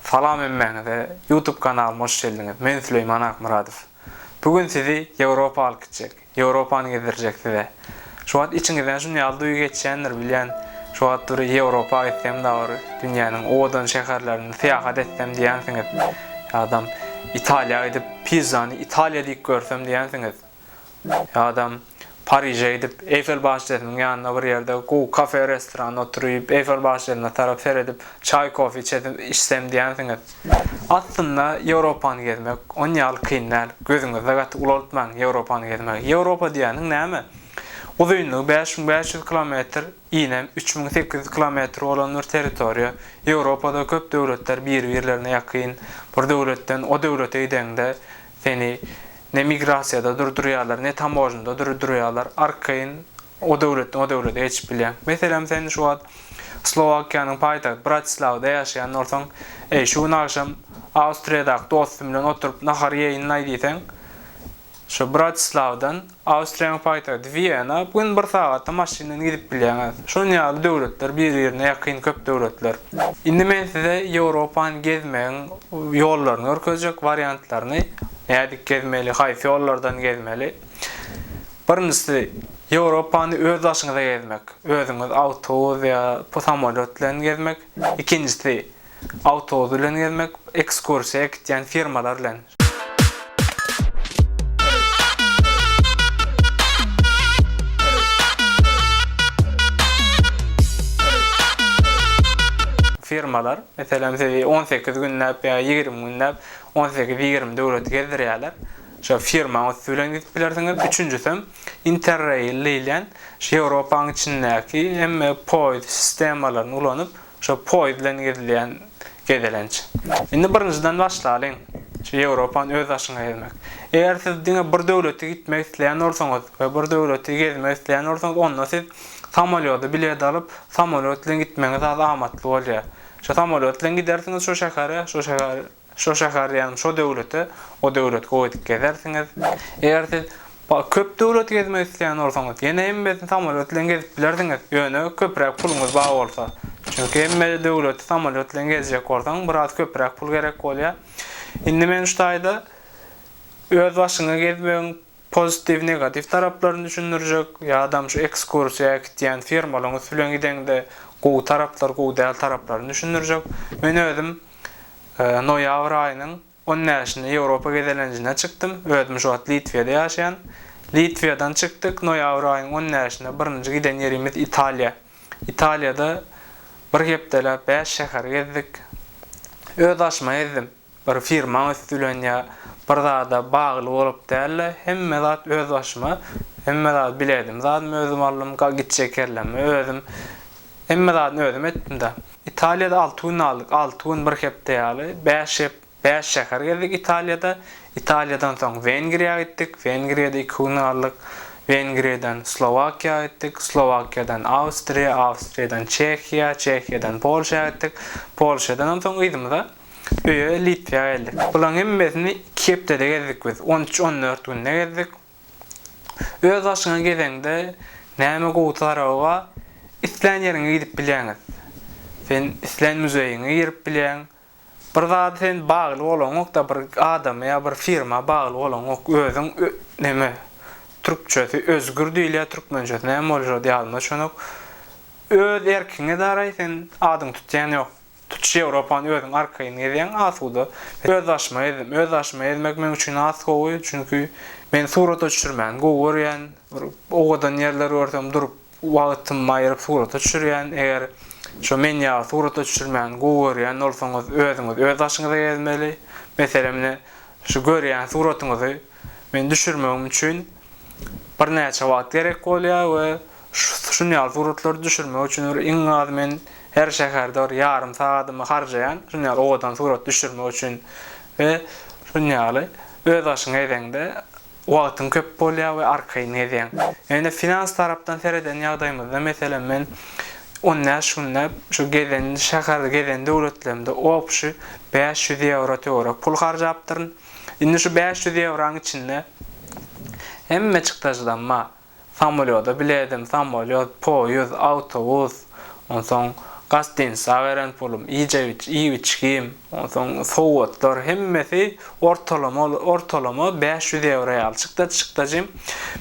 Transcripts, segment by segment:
Salam hemmäňize YouTube kanalyma hoş geldiňiz men Süleýman Akmyradow bu gün sizi Ýewropa alyp gitjek Ýewropany gezdirjek size şu wagt içiňizden şun ýaly duýgy geçýändir bilýän şu wagt bir Ýewropa gitsem dagy bir dünýäniň owadan şäherlerine syýahat etsem diýýänsiňiz ýadam Italiýa gidip pizzany Italiýa diýip görsem diýýänsiňiz. Adam Pariže gidip, Eýfel başçesiniň ýanynda bir ýerde gowy kafe-restoranda oturyp, Eýfel başçesyna tarap seredip, çaý-kofe içesim, içsem diýensiňiz. Aslynda Ýewropany gezmek on ýaly kyn däl. Gözüňizde gaty ulaltmaň Ýewropany gezmegi. Ýewropa diýýäniň näme? Uzynlygy bäş müň bäş ýüz kilometr, inem üç müň sekiz ýüz kilometr bolan bir territoriýa. Ýewropada köp döwletler biri-birlerine ýakyn. Bir döwletden o döwlete gideňde, Seni ne migrasiýada durdurýarlar, ne tamožnada durdurýarlar, arkaýyn o döwletden o döwlete geçip bilýäň. Meselem, sen şu wagt Slowakiýanyň paýtagty Bratislawada ýaşaýan bolsaň, eý, şu gün agşam Awstriýadaky dostum bilen oturyp nahar iýeýin-laý diýseň, şu Bratislawadan, Awstriýanyň paýtagty Wiena, bu gün bir sagatda maşyndan gidip bilýäňiz. Şunuň ýaly döwletler bir-birine ýakyn köp döwletler. Indi men size Ýewropany gezmegiň ýollaryny görkezjek, wariantlaryny, nädip gezmeli, haýsy ýollardan gezmeli. Birinjisi, Ýewropany öz daşyňyza gezmek, özüňiz awtobus ýa samolýot bilen gezmek. Ikinjisi, awtobus bilen gezmek, ekskursiýa gitýän firmalar bilen. Firmalar, meselem, sizi on sekiz günläp ýa ýigrimi günläp, on sekiz, ýigrimi döwleti gezdirýärler. Şo firmaň üsti bilen gidip bilersiňiz. Üçünjisem, Interrail diýilýän, şu Ýewropanyň içindäki hemme poýuz sistemalaryny ulanyp, Şu poýiz bilen gezilýän gezelenç. Indi birinjiden başlalyň, şu Ýewropany öz daşyňa ezmek. Eger siz diňe bir döwleti gitmek isleýän bolsaňyz we bir döwleti gezmek isleýän bolsaňyz, onda siz samolýoda bilet alyp, samolýot bilen gitmegiňiz az amatly bolýar. Şu samolýot bilen gidersiňiz şu şähere, şu şäher Şo şäher ýagny şo döwlete, o döwlet gowy edip gezersiňiz. Eger siz köp döwlet gezmek isleýän bolsaňyz, ýene hemmesini samolýot bilen gezip bilersiňiz, ýöne köpräk puluňyz bar bolsa. Çünki hemme döwleti samolýot bilen gezjek bolsaň, biraz köpräk pul gerek bolýar. Indi men şu taýda öz başyňa gezmegiň Pozitiw negatiw taraplaryny düşündirjek ýa adam şu ekskursiýa äkitýän firmalaň üsti bilen gideňde gowy taraplar gowy däl taraplaryny düşündirjek. Men özüm noýabr aýynyň on bäşinde Ýewropa gezelenjine çykdym. Özüm şu wagt Litwiýada ýaşaýan. Litwiýadan çykdyk noýabr aýyň on bäşinde birinji giden ýerimiz Italiýa. Italiýada bir hepdeläp bäş şäheri gezdik. Öz aşyma ezdim. Bir firmaň üsti bilen ýa bir zada bagly bolup däl-de, hemme zat öz başyma, hemme zady biledim zadymy özüm aldym, gitjek ýerlerimi özüm, hemme zadyny özüm etdim-de. Italiýada alty gün galdyk, alty gün bir hepde ýaly, bäş hep, bäş şäher gezdik Italiýada. Italiýadan soň Wengriýa gitdik, Wengriýada iki gün galdyk, Wengriýadan Slowakiýa gitdik, Slowakiýadan Awstriýa, Awstriýadan Çehiýa, Çehiýadan Polşa gitdik, Polşadanam soň yzymyza. Öýe Litwä geldik. Bulaň hemmesini iki hepdede gezdik biz. On üç, on dört günde gezdik. Öz başyňa gezeňde näme gowy taraby bar? Islän ýeriňe gidip bilýäňiz. Sen islän muzeýiňe girip bilýäň. Bir zada sen bagly bolaňok-da, bir adama ýa bir firma bagly bolaňok. Özüň neme, türkçesi özgür diýilýär, türkmençesi näme bolýar ýadyma düşenok. Öz erkiňe daraý, sen adyňy tutýan ýok. Tutuş Ýewropany özüň arkaýyn gezýäň asuda. Öz başyma gezdim. Öz başyma gezmek meň üçin has gowy, çünki men surata düşürmäni gowy görýän. Bir owadan ýerler görsem durup wagtymy aýyryp surata düşürýän. Eger şo men ýaly surata düşürmäni gowy görýän bolsaňyz özüňiz öz başyňyza gezmeli. Meselem ine şu görýän suratyňyzy men düşürmegim üçin birnäçe wagt gerek bolýar we Şun ýaly suratlary düşürmek üçin bir iň az men her şäherde bir ýarym sagadymy harjaýan, şun ýaly owadan surat düşürmek üçin we şun ýaly öz başyň gezeňde wagtyň köp bolýar we arkaýyn gezýäň. Ýöne finans tarapdan sereden ýagdaýymyzda meselem men on bäş günde şu gezen şäherde gezen döwletlerimde obşi bäş ýüz ýewro töwerek pul harjapdyryn. Indi şu bäş ýüz ýewraň içinde hemme çykdajydan bar. Samolýoda biledim, samolýot, poýuz, awtobus, onsoň gastinsa beren pulum, iýjek iýip-içgim, onsoň sowgatlar hemmesi ortalama ortalama bäş ýüz ýewro ýaly çykda çykdajym.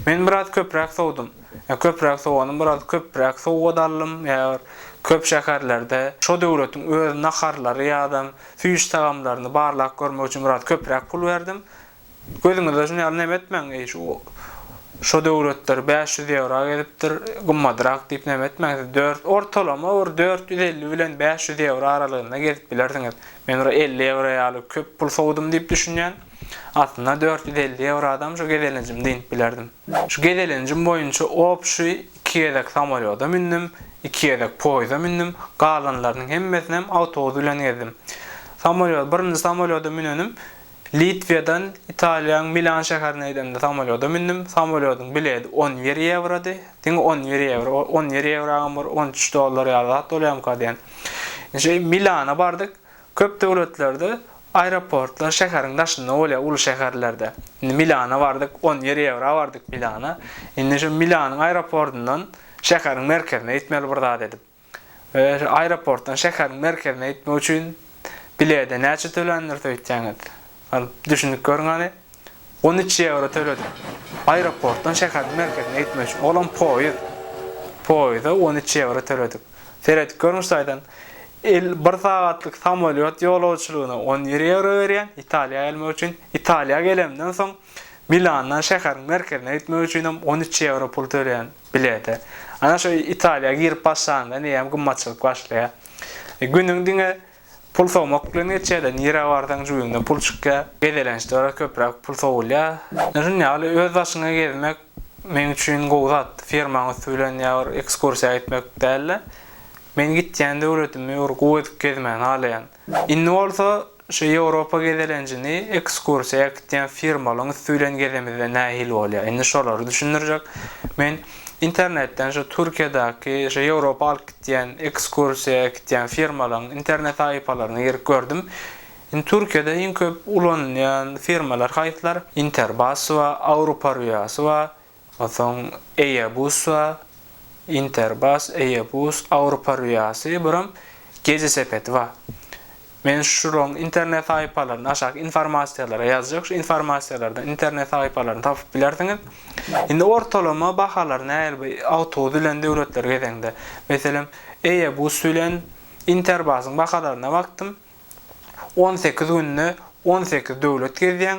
Men biraz köpräk sowdum. Ýa köpräk sowanym biraz köpräk sowgat aldym, ýa bir köp şäherlerde şo döwletiň öz naharlary ýa-da süýş tagamlaryny barlap görmek üçin biraz köpräk pul berdim. Gözüňizde şun ýaly neme etmäň, eý, şu, şo döwletler bäş ýüz ýewra gezipdir, gymmadrak diýip neme etmäň, siz dört, ortalama bir dört ýüz elli bilen bäş ýüz ýewra aralygynda gezip bilersiňiz. Men bir elli ýewra ýaly köp pul sowdum diýip düşünýän. Aslynda dört ýüz elli ýewradam şu gezelenjim dynp bilerdim. Şu gezelenjim boýunça obşi iki gezek samolýoda mündim, iki gezek poýza mündim, galanlarynyň hemmesinem awtobus bilen gezdim. Samolýod, birinji samolýoda münenim Litwedan Italiýaň Milan şäherine gidemde samolýoda mündüm. Samolýodyň biledi on bir ýewrody. Diňe on bir ýewro. On bir ýewragam bir on üç dollar ýaly zat bolýamyka diýen. Şeýdip Milana bardyk. Köp döwletlerde aeroportlar şäheriň daşynda bolýar, uly şäherlerde. Indi Milana bardyk, on bir ýewra bardyk Milana. Indi şu Milanyň aeroportundan şäheriň merkezine gitmeli bir zat edip. Aeroportdan şäheriň merkezine gitmek üçin bilede näçe tölendiris öýtýäňiz? Düşünip görüň hany. On üç ýewro töledim. Aeroportdan şäheriň merkezine gitmek üçin. Olam poýuz. Poýuza on üç ýewro töledik. Seredip görüň şu taýdan. El bir sagatlyk samolýot ýolagçylygyna on bir ýewro berýän, Italiýa gelmek üçin. Italiýa gelemden soň Milandan şäheriň merkezine gitmek üçinem on üç ýewro pul töleýän. Bilete. Ana şu Italiýa girip başlanda nirem gymmatçylyk başlaýar. Günüň diňe pul sowmak bilen geçýärde nirä barsaň jübiňde pul çykýar. Gezelençde biraz köpräk pul sowulýar. Ana şuny ýaly öz başyňa gezmek meň üçin gowy zat. Firmaň üsti bilen ýa bir ekskursiýa gitmek dälde. Men gitýän döwletimi bir gowy edip gezmän halaýan. Indi bolsa şu Ýewropa gezelenjini ekskursiýa äkitýän firmalaň üsti bilen gezemizde nähili bolýar? Indi şolary düşündirjek. Men internetden şu Türkiýedäki şu Ýewropa alyp gitýän ekskursiýa äkitýän firmalaň internet sahypalaryna girip gördüm. Indi Türkiýede iň köp ulanylýan firmalar haýsylar? Interbasy bar, Awruparwiasy bar, Onsoň Eýebus we Interbas, Eýebus, Awropa Rüýasy, biram Gece sepeti bar. Men şularyň internet sahypalaryny aşaky informasiýalara ýazjak, şu informasiýalardan internet sahypalaryny tapyp bilersiňiz. Indi ortalama bahalar nähili bu awtobus bilen döwletleri gezeňde? Meselem, Eýebus bilen Interbasyň bahalaryna bakdym, on sekiz günde on sekiz döwlet gezýäň,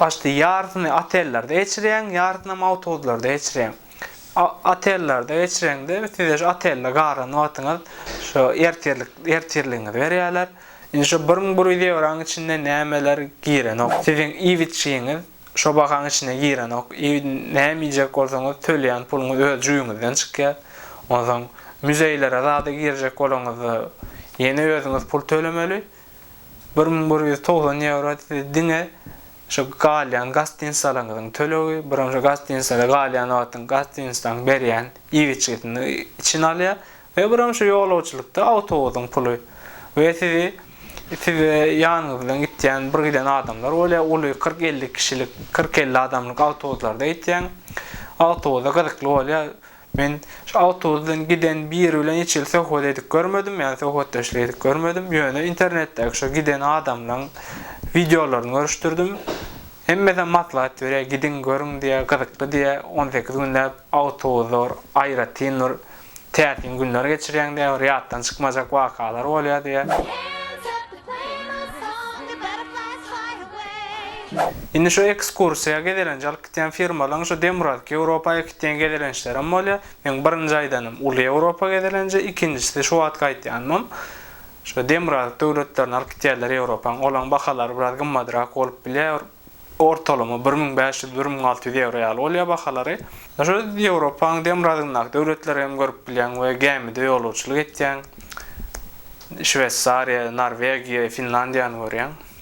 Başda ýarysyny otellerde geçirýäň, ýarysynam awtobuslarda geçirýäň. Otellerde geçireňde size şu otelde galan wagtyňyz şu ertirlik ertirligiňizi berýärler. Indi şu bir müň bir ýüz ýewraň içinde nämeler girenok. Siziň iýip-içjigiňiz şo bahaň içine girenok. Näme iýjek bolsaňyz töleýän puluňyz öz jübüňizden çykýar. Onsoň müzeýlere zada girjek bolaňyzda ýene özüňiz pul tölemeli. Bir müň bir ýüz togsan ýewro siz diňe şu galýan gastinisalyňyzyň tölegi, biram şu gastinisada galýan wagtyň gastinisdaň berýän iýip-içgisini içine alýar we biram şu ýolagçylykda awtobusyň puly we sizi size ýanyňyz bilen gitýän bir giden adamlar bolýar, uly kyrk-elli kişilik, kyrk-elli adamlyk awtobuslarda gitýäň, awtobusa gyzykly bolýar. Men şu awtobusdan giden biri bilen hiç hili söhbet edip görmedim, ýagny söhbetdeşlik edip görmedim, ýöne internetdäki şo giden adamlaň wideolaryny görüşdirdim. Hemmesem maslahat berýär, gidiň, görüň diýýär, gyzykly diýýär, on sekiz günläp awtobusda bir aýratyn bir täsin günler geçirýäň diýýär, bir ýatdan çykmajak wakalar bolýar diýýär. Indi şu ekskursiýa gezelenje alyp Giden firmalaň şu demirgazyk Ýewropa gitýän gezelençlerem bolýa. Meň birinji aýdanym uly Ýewropa gezelenji, ikinjisi şu wagt gaýtýanymam. Şu demirgazyk döwletlerini alyp gitýärler Ýewropaň. Olaň bahalary biraz gymmadrak bolup bilýä. Bir ortalama bir müň bäş ýüz, bir müň alty ýüz ýewro ýaly bolýa bahalary. Şu Ýewropaň demirgazygyndaky döwletleri hem görüp bilýäň we gämide ýolagçylyk etýäň. Şweýsariýa, Norwegiýa, Finlandiýany görýäň.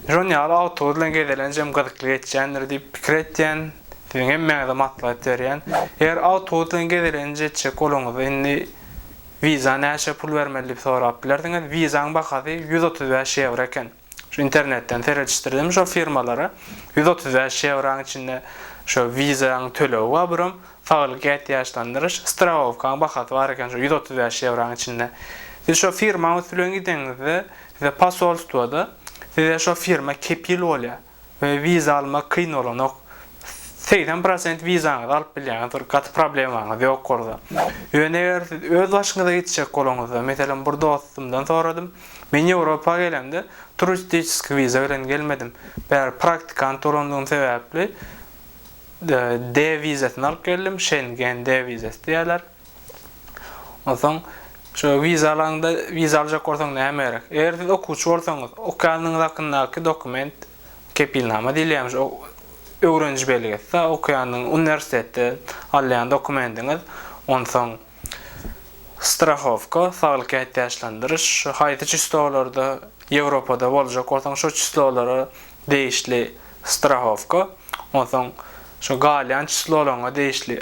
Jon ýaly awtobus bilen gezelenç hem gyzykly geçýändir diýip pikir etýän. Siziň hemmäňize maslahat berýän. Eger awtobus bilen gezelenç etjek boluňyzda indi wiza näçe pul bermeli diýip sorap bilersiňiz. Wizaň bahasy ýüz otuz bäş ýewro eken. Şu internetden seredişdirdim şo firmalary. Ýüz otuz bäş ýewraň içinde şo wizaň tölegi bar birom saglyk ätiýaçlandyryş strawowkaň bahasy bar eken şo ýüz otuz bäş ýewraň içinde. Siz şo firmaň üsti bilen gideňizde Size posolstwoda size şo firma kepil bolýa we wiza almak kyn bolanok. Segsen prosent wizaňyzy alyp bilýäňiz bir gaty problemaňyz ýok gorda. Ýöne eger siz öz başyňyza gitjek bolanyňyzda meselem bir dostumdan soradym. Men Ýewropa gelemde turistiçeski wiza bilen gelmedim. Bäri praktikant bolandygym sebäpli D wizasyny alyp geldim, Şengen D wizasy diýýärler. Onsoň şu wiza alaňda wiza aljak bolsaň näme gerek? Eger siz okuwçy bolsaňyz, okýanyňyz hakyndaky dokument, kepilnama diýilýärmiş, o öwreniji belgesi, okýanyň uniwersitetde alýan dokumendiňiz, onsoň strahowka, saglyk ätiýaçlandyryş, şu haýsy çislowlarda Ýewropada boljak bolsaň şo çislowlara degişli strahowka, onsoň şu galýan çislowlaryňa degişli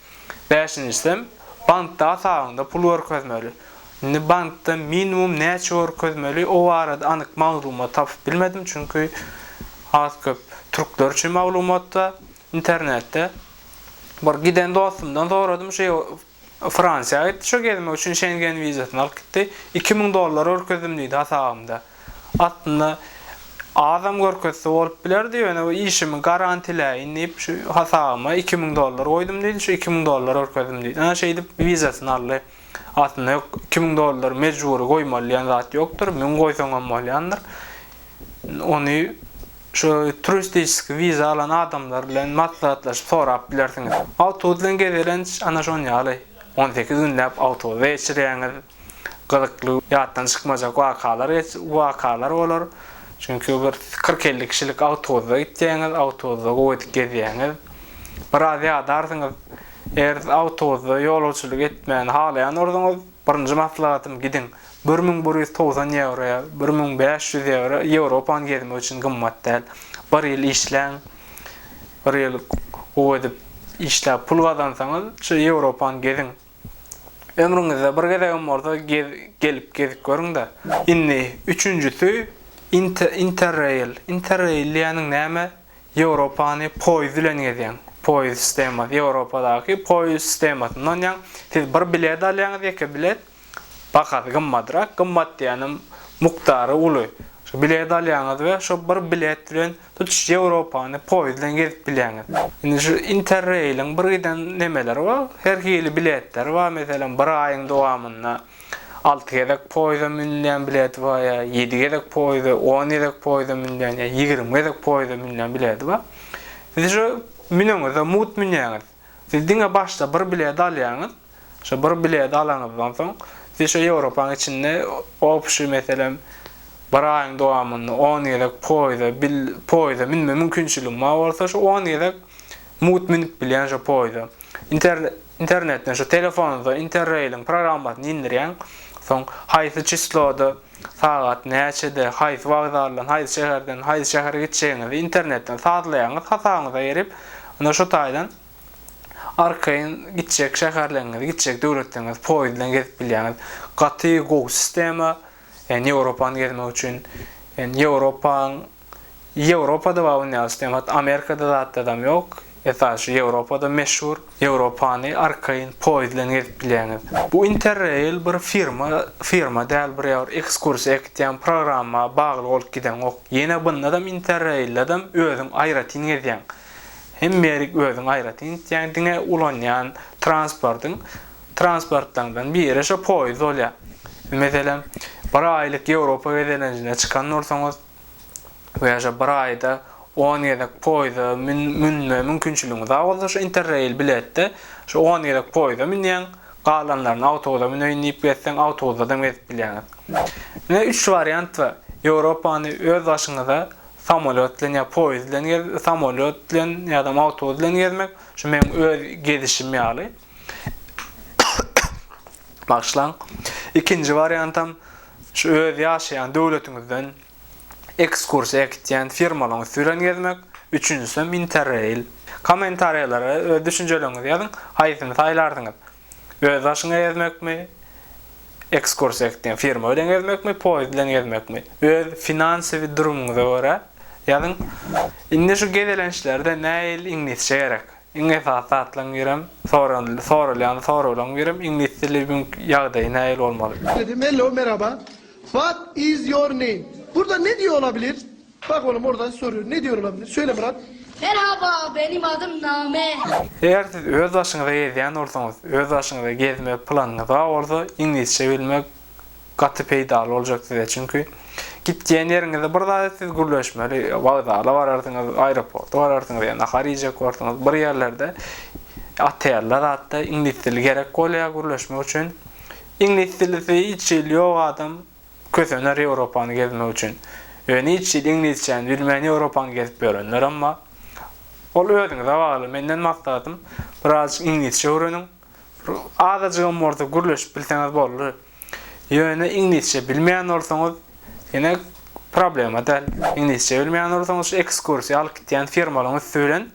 Bäşinjisem, bankda hasabyňda pul görkezmeli. Indi bankda minimum näçe görkezmeli, o barada anyk maglumat tapyp bilmedim, çünki az-köp türkler üçin maglumatda, internetde. Bir giden dostumdan soradym, şeý Fransiýa gitdi şo gezmek üçin Şengen wizasyny alyp gitdi. Iki müň dollar görkezdim diýdi hasabymda. aslynda azam görkezse bolup bilerdi, ýöne bu işimi garantiläýin diýip, şu hasabyma iki müň dollar goýdum diýdi, şu iki müň dollar görkezdim diýdi. Ana şeýdip wizasyny aldy. Aslynda ýok, iki müň dollar mejbury goýmaly diýen zat ýokdur, müň goýsaň hem bolýandyr. Ony şu turistiski wiza alan adamlar bilen maslahatlaşyp sorap bilersiňiz. Awtobus bilen gezelenç ana şonuň ýaly, on sekiz günläp awtobusda geçirýäňiz. gyzykly, ýatdan çykmajak wakalar wakalar bolar. Çünki bir kyrk-elli kişilik awtobusda gitýäňiz, awtobusda gowydyp gezýäňiz. Biraz ýadarsyňyz. Eger awtobusda ýolagçylyk etmäni halaýan bolsaňyz, birinji maslahatym gidiň. Bir müň bir ýüz togsan ýewroýa, bir müň bäş ýüz ýewro Ýewropany gezmek üçin gymmat däl. Bir ýyl işläň. Bir ýyl gowy edip işläp pul gazansaňyz, şu Ýewropany geziň. Ömrüňizde bir gezegem bolsa gelip gezip görüňda. Indi üçünjisi interrail. Interrail diýeniň näme? Ýewropany poýiz bilen gezýäň. Poýiz sistemasy Ýewropadaky poýiz sistemasynda onýaň. Siz bir bilet alýaňyz, ýeke bilet. Bahasy gymmadrak. Gymmat diýenim mukdary uly. Şu bileti alýaňyz we şo bir bilet bilen Tutuş Ýewropany poýiz bilen gezip bilýäňiz. Indi şu Interrail-iň bir giden nemeleri bar. Her hili biletleri bar. Meselem, bir aýyň dowamynda alty gezek poýiza münülýän bileti bar ýa ýedi gezek poýiza, on gezek poýiza münülýän ýa ýigrimi gezek poýiza münülýän bileti bar. Siz şu müneňizde mugt münýäňiz. Siz diňe başda bir bilet alýaňyz. Şo bir bileti alanyňyzdan soň, siz şo Ýewropaň içinde obşi, meselem, bir aýyň dowamynda on gezek poýza, bil, poýza münme mümkinçiligiň bar bolsa, şo on gezek mugt münüp bilýän şo poýza. Inter, internetden, şo telefonyňyza Interrail-iň programmasyny indirýäň. Soň haýsy çisloda Sagat näçede, haýsy wokzaldan, haýsy şäherden, haýsy şähere gitjegiňizi internetden sazlaýaňyz, hasabyňyza girip, onda şu taýdan arkaýyn gitjek şäherleriňizi, gitjek döwletleriňizi poýiz bilen gezip bilýäňiz. Gaty gowy sistema, ýöne Ýewropany gezmek üçin, ýöne Ýewropaň Ýewropada bar bu nýazy islem hat Amerikada zat zadam ýok esasy şu Ýewropada meşhur Ýewropany arkaýyn poýiz bilen gezip bilýäňiz. Bu interrail bir firma firma däl bir ýa bir ekskursiýa ekitýän programma bagly bolup gideňok ýene bundadam interraildadam özüň aýratyn gezýäň hem merik özüň aýratyn gitýäň diňe ulanýan transportyň transportlaňdan biri şo poýiz bolýa meselem bir aýlyk Ýewropa gezelenjine çykan bolsaňyz Bu ýaşa bir aýda on gezek poýda münme mümkinçiligiňiz bar bolsa şu interrail biletde şu on gezek poýda münýäň, galanlaryny awtobusa müneýin diýip gezseň awtobusdadam gezip bilýäňiz. Ine üç wariant bar. Ýewropany öz başyňyza samolýot bilen ýa poýiz bilen samolýot bilen ýadam awtobus bilen gezmek şu meň öz gezişim ýaly. Bagyşlaň. Ikinji wariantam şu öz ýaşaýan döwletiňizden ekskursiýa gitýän firmalaryň üsti bilen gezmek, üçünjisem interreil. Kommentariýalara öz düşünjeleriňizi ýazyň, haýsyny saýlardyňyz? Öz başyňa gezmekmi, ekskursiýa gitýän firma bilen gezmekmi, poýezd bilen gezmekmi? Öz finansiwi durumyňyza görä ýazyň. Indi şu gezelençlerde näil iňlisçe gerek? Iň esasy zatlaryň birem, soranyldy, soralýan soraglaryň birem iňlis dili bugünki ýagdaýy nähili bolmaly? Dedim, Hello, merhaba, what is your name? Burda ne diýe olabilir? Bak oglum orda sorýar, ne diýe olabilir? Söyle Murat. Merhaba, benim adım Name. Eger siz öz başyňyza gezýän bolsaňyz, öz başyňyza gezmek planyňyz bar bolsa, iňlisçe bilmek gaty peýdaly boljak size çünki gitýän ýeriňizde bir zada siz gürleşmeli wokzala bararsyňyz aeroporta bararsyňyz ýa nahar iýjek borsyňyz bir ýerlerde otelde zatda iňlis dili gerek bolýar gürleşmek üçin iňlis dilisi hiç hili ýok adam kösener ýewropany gezmek üçin ýöne hiç hili iňlisçäni bilmän ýewropany gezip ýörenlerem bar ol özüňize bagly menden maksatym birazajyk iňlisçe öwreniň Azajygam bolsa gürleşip bilseňiz boldy. Ýöne iňlisçe bilmeýän bolsaňyz, ýene problema däl. Iňlisçe bilmeýän bolsaňyz, şu ekskursiýa alyp gitýän firmalaryň üsti bilen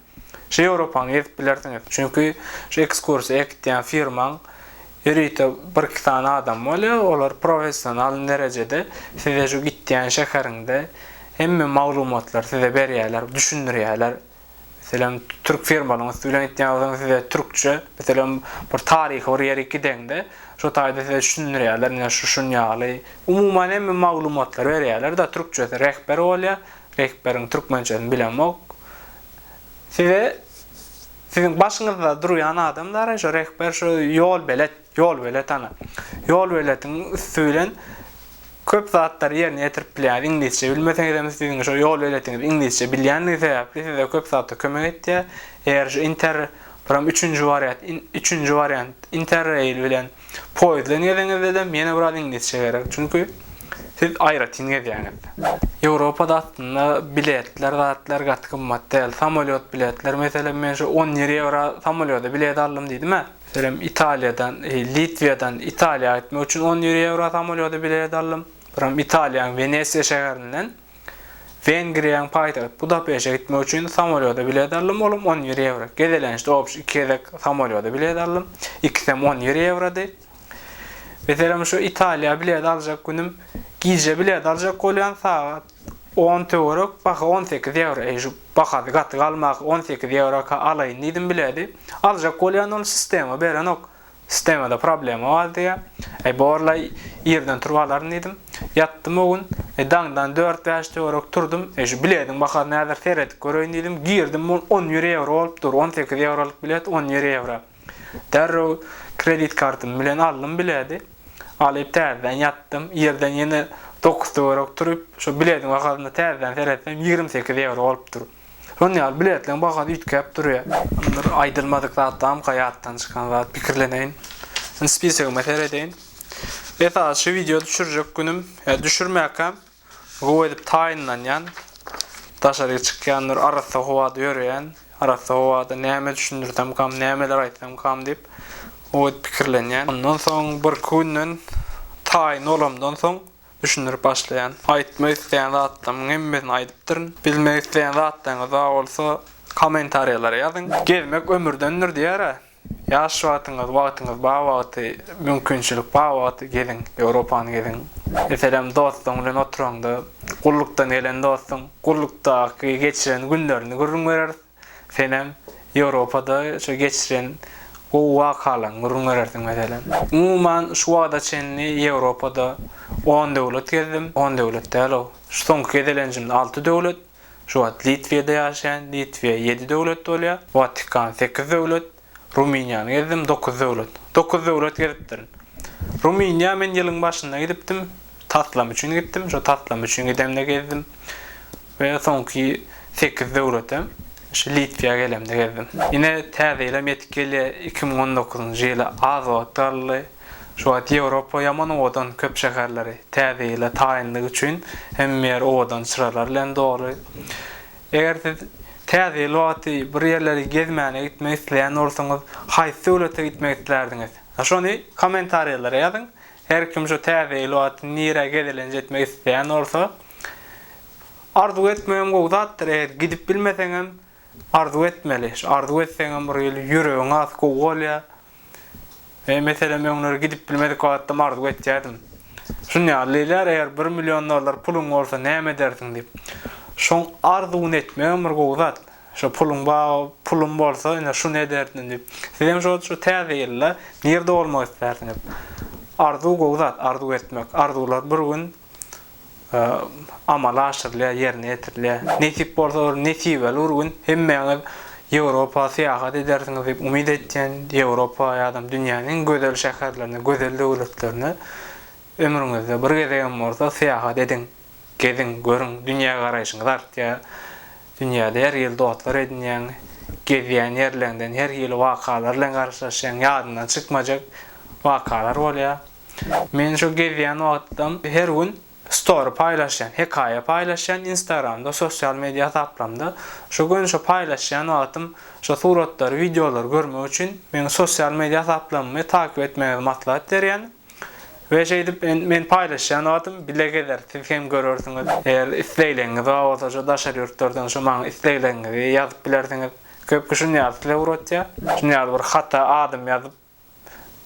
şu Ýewropany gezip bilersiňiz. Çünki şu ekskursiýa alyp gitýän firmaň ýörite birki sany adamy bolýar, olar professional derejede size şu gitýän şäheriňde hemme maglumatlary size berýärler, düşündirýärler. Meselem, türk firmasynyň üsti bilen gitýäňiz, size türkçe, meselem, bir taryhy bir ýere gideňde, şo taýda size düşündirýärler, ine, şu şun ýaly. Umuman hemme maglumatlary berýärler-de, türkçesi rehber bolýar, rehberiň türkmençesini bilemok. Size siziň başyňyzda durýan adam dagy şo rehber, şo ýolbelet. Ýolbelet ana. Ýolbeletiň üsti bilen köp zatlary ýerine ýetirip bilýär. Iňlisçe bilmeseňizem siziň şo ýolbeletiňiz iňlisçe bilýändigi sebäpli size köp zatda kömek etýär. Eger şu inter buram üçünji wariat üçünji wariant interrail bilen poýezdden gezeňizdedem ýene biraz iňlisçe gerek. Çünki siz aýratyn gezýäňiz. Ýewropada aslynda biletler zatlar gaty gymmat däl. Samolýot biletler meselem men şu on ýedi ýewra samolýoda bilet aldym diýdim-ä. Birem Italiýadan, Litwiýadan Italiýa gitmek üçin on ýüri ýewro samolýoda bilet aldym. Birem Italiýaň Wenesiýa şäherinden Wengriýaň paýtagt Budapeşe gitmek üçin samolýoda bilet aldym, olam on ýüri ýewro. Gezelençde obşi iki gezek samolýoda bilet aldym. Ikisem on ýüri ýewrody. Meselem, şu Italiýa bilet aljak günüm gije bilet aljak bolýan sagat On töwerek baha on sekiz ýewro, eý, şu bahasy gaty galmak, on sekiz ýewroka alaýyn diýdim biledi. Aljak bolýan ol sistema berenok. Sistemada problema bar diýýä. Eý, borlaý, irden turup alaryn diýdim. Ýatdym o gün. Eý, daňdan dört-bäş töwerek turdum. Eý, şu bilediň bahasyny häzir seredip göreýin diýdim. Girdim, ol on bir ýewro bolup dur. On sekiz ýewrolyk bilet on bir ýewro. Derrew kredit kartym bilen aldym biledi. Alyp täzeden ýatdym. Irden ýene dokuz töwerek turup, şo bilediň bahasyna täzeden seretsem, ýigrimi sekiz ýewro bolupdyr. Şon ýaly biletleň bahasy üýtgäp durýar. Yndyr aýdylmadyk zatlamyka ýatdan çykan zat, pikirleneýin. Indi spisoguma seredeýin. Esasy şu wideo düşürjek günüm, ýa düşürmäkäm. Gowy edip taýynlanýan, daşaryk çykýandyr, arassa howada ýöreýän, arassa howada näme düşündirsem kam, nämeler aýtsam kam diýip, gowy edip pikirlenýän. Ondan soň birki günden taýyn bolamdan soň düşündirip başlaýan. Aýtmak isleýän zatlarymyň hemmesini aýdypdyryn. Bilmek isleýän zatlaryňyz bar bolsa, kommentariýalara ýazyň. Gezmek ömürdendir diýer-ä. Ýaş wagtyňyz, wagtyňyz bar wagty, mümkinçilik bar wagty geziň, Ýewropany geziň. Meselem, dostuň bilen oturaňda, gullukdan gelen dostuň gullukdaky geçiren günlerini gürrüň berersiň. Senem Ýewropada şo geçiren gowy wakalaryňy gürrüň berersiň meselem. Umuman, şu wagta çenli Ýewropada on döwlet gezdim, on döwlet däl-ow, şu soňky gezelenjimde alty döwlet. Şu wagt Litwiýada ýaşaýan, Litwiýa ýedi döwlet bolýa, Watikan sekiz döwlet, Rumyniýany gezdim dokuz döwlet. Dokuz döwlet gezipdirin. Rumyniýa men ýylyň başynda gidipdim, taslam üçin gitdim, şo taslam üçin gidemde gezdim we soňky sekiz döwletem şu Litwiýa gelemde gezdim. Ine täze ýylam ýetip gelýä, iki müň on dokuzynjy ýyla az wagt galdy. Şu wagt Ýewropa ýaman owadan köp şäherleri täze ýyla taýynlyk üçin hemme ýer owadan çyralar bilen doly. Eger siz täze ýyl wagty bir ýerleri gezmäne gitmek isleýän bolsaňyz haýsy döwlete gitmek islärdiňiz? Şony komentariýalara ýazyň. Her kim şu täze ýyl wagty nirä gezelenç etmek isleýän bolsa Arzuw etmegem gowy zatdyr eger gidip bilmeseňem arzuw etmeli. Şu arzuw etseňem bir ýyl ýüregiň has gowy bolýar. Eý meselem öňleri gidip bilmedik wagtym arzuw etýädim. Şun ýaly diýilýär eger bir million dollar puluň bolsa näme edersiň diýip. Şoň arzuwyny etmegem bir gowy zat. Şo puluň bar pulum bolsa ine şuny ederdim diýip. Sizem şol şu täze ýylda nirde bolmak istersiňiz. Arzuw gowy zat arzuw etmek. Arzuwlar bir gün amala aşyrylýar, ýerine ýetirilýär. Nesip bolsa bir nesibeli bir gün hemmäňiz Ýewropa syýahat edersiňiz diýip umyt etýän. Ýewropa ýa-da dünýäniň iň gözel şäherlerine, gözel döwletlerine ömrüňizde bir gezegem bolsa syýahat ediň, geziň, görüň, dünýägaraýşyňyz artýar. Dünýäde her hili dostlar edinýäň, gezýän ýerleriňden her hili wakalar bilen garşylaşýaň, ýadyňdan çykmajak wakalar bolýar. Men şu gezýän wagtym her gün story paýlaşýan, hekaýa paýlaşýan instagramda sosial media hasaplarymda. Şu gün şu paýlaşýan wagtym şu suratlary wideolary görmek üçin meň sosial media hasaplarymmy takyp etmegiňizi maslahat berýän. We şeýdip men paýlaşýan wagtym bile gezer siz hem görersiňiz. Eger islegleňiňiz bar bolsa şu daşary ýurtlardan şu maňa islegleňiňizi ýazyp bilersiňiz. Köp kişi şuny ýazyp size ugratýar. Şuny ýazyp bir hata adam ýazyp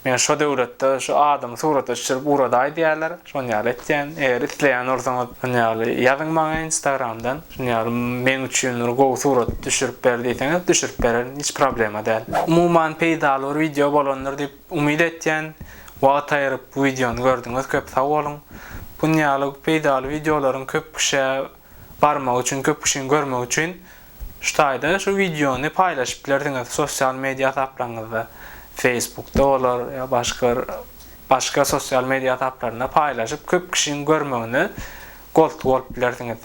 Men şo döwletde şu adamy surata düşürip ugradaý diýýärler, şon ýaly etýän. Eger isleýän bolsaňyz şon ýaly ýazyň maňa instagramdan, şun ýaly meň üçin bir gowy surat düşürip ber diýseňiz düşürip bererin hiç problema däl. Umuman peýdaly bir wideo bolandyr diýip umyt etýän. Wagt aýyryp bu wideony gördüňiz köp sag boluň. Bun ýaly peýdaly wideolaryň köp kişä barmagy üçin, köp kişiniň görmegi üçin. Şu taýda şu wideony paýlaşyp bilersiňiz sosial media hasaplaryňyzda, Facebookda bolar ýa başga bir başga sosial media hasaplarynda paýlaşyp köp kişiň görmegine goltgy bolup bilersiňiz.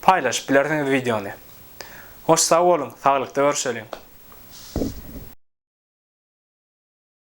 Paýlaşyp bilersiňiz wideony. Hoş sag boluň, saglykda görüşeliň.